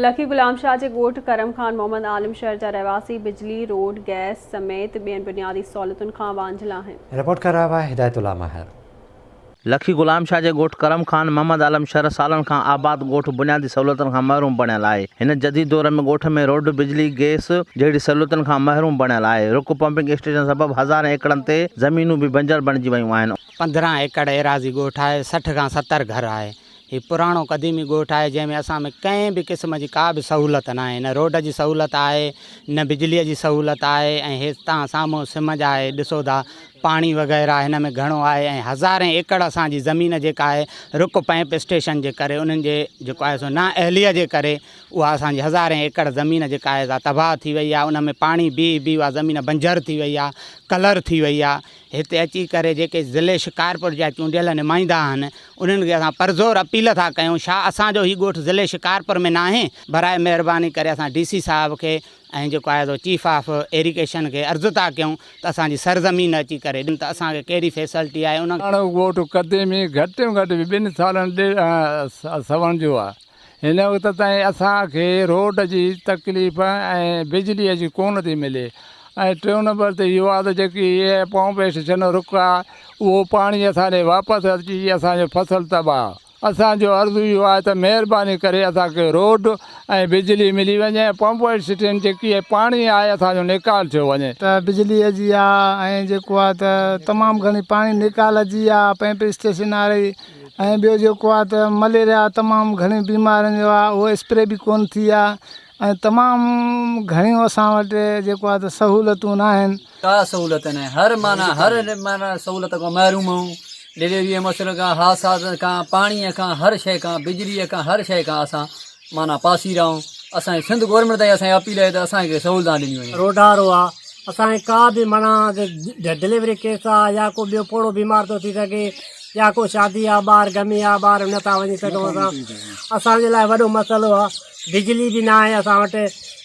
لکي غلام شاهه جي ڳوٺ ڪرم خان محمد عالم شهر جا رهواسي بجلي، روڊ، گئس سميت ٻين بنيادي سهولتن کان وانجهيل آهن. رپورٽ ڪري رهيو آهي هدايت الله ماهر. لکي غلام شاهه جي ڳوٺ ڪرم خان محمد عالم شهر سالن کان آباد ڳوٺ بنيادي سهولتن کان محروم بڻيل آهي. هن جديد دور ۾ ڳوٺ ۾ روڊ، بجلي، گئس جهڙي سهولتن کان محروم بڻيل آهي. رڪ پمپنگ اسٽيشن سبب هزارين ايڪڙن تي زمينون به بنجر بڻجي ويون آهن. پندرهن ايڪڙ ايراضي ڳوٺ آهي، سٺ کان ستر گهر آهي. هي پراڻو قديمي ڳوٺ آهي جنهن ۾ اسان ۾ ڪنهن به قسم جي ڪا به سهولت ناهي نه روڊ جي سهولت آهي نه بجلي جي سهولت آهي ۽ هي تان سامهون سمنج آهي ڏسو ٿا پاڻي وغيره هن ۾ گهڻو آهي ۽ هزارين ايڪڙ اسان جي زمين جيڪا آهي رڪ پئمپ اسٽيشن جي ڪري انهن جي جيڪو آهي سو نا اهليء جي ڪري اها اسان جي هزارين ايڪڙ زمين جيڪا آهي سا تباهه ٿي وئي آهي ان ۾ پاڻي بيهي بيهي اها زمين بنجر ٿي وئي آهي ڪلر ٿي وئي آهي هتي اچي ڪري جيڪي ضلعي شڪارپور جا چونڊيل نمائندا آهن انهن کي اسان پرزور اپيل ٿا ڪيون شا اسان جو هي ڳوٺ ضلعي شڪارپور ۾ ناهي براء مهرباني ڪري اسان ڊي سي صاحب کي ۽ جيڪو آهي سو چيف آف ايريگيشن کي عرض ٿا ڪيون ته اسان جي سرزمين اچي ڪري ڏن ته اسان کي ڪهڙي فيسلٽي آهي انهن لاڻو ڳوٺ قديمي گهٽ ۾ گهٽ ٻن سالن ڏير سوڻ جو آهي هن وقت تائين اسان کي روڊ جي تڪليف ۽ بجلي جي ڪونه ٿي ملي ۽ ٽيون نمبر تي اهو آهي ته جيڪي پمپ اسٽيشن رڪ آهي اهو پاڻي اسان ڏي واپس اچي اسان جو فصل تباهه اسان جو عرض اهو آهي ته مهرباني ڪري اسان کي روڊ ۽ بجلي ملي وڃي ۽ پمپ اسٽيشن جيڪي پاڻي آهي اسان جو نيڪال ٿيو وڃي. ته بجلي جي آهي ۽ جيڪو آهي ته تمام گهڻي پاڻي نيڪال جي آهي پمپ اسٽيشن واري ۽ ٻيو جيڪو آ ته مليريا تمام گھڻي بيمارين جو آ اھو اسپري به ڪون ٿي آ ۽ تمام گھڻيون اسان وٽ جيڪو آ ته سھولتون ناھن. ڪا سھولت ناھي ھر معنيٰ ھر معنيٰ سھولت کان محروم آھون ڊليوريء مشرق کان حادثات کان پاڻيء کان ھر شيء کان بجليء کان ھر شيء کان اسان معنيٰ پاسيرائون اسان جي سنڌ گورنمينٽ تائين اسان جي اپيل آهي ته اسان کي سهولتان ڏنيون وڃن. روڊارو آ اسان جي ڪا به معنيٰ ڊليوري ڪيس آ يا ڪو ٻيو پوڙهو بيمار ٿو ٿي سگهي يا ڪو شادي آ ٻاهر گمي آ ٻاهر نه ٿا وڃي سگهون اسان اسان جي لاء وڏو مسئلو آ بجلي به ناهي اسان وٽ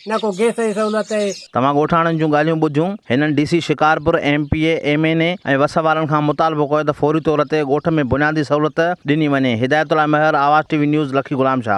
نه ڪو گئس جي سهولت اهي. توهان ڳوٺاڻن جون ڳالهيون ٻڌيون، هنن D C Shikarpur, M P A, M N A ۽ وس وارن کان مطالبو ڪيو ته فوري طور تي ڳوٺ ۾ بنيادي سهولت ڏني وڃي. هدايت Ullah Mahar, Awaz T V news, Lakki Ghulam Shah.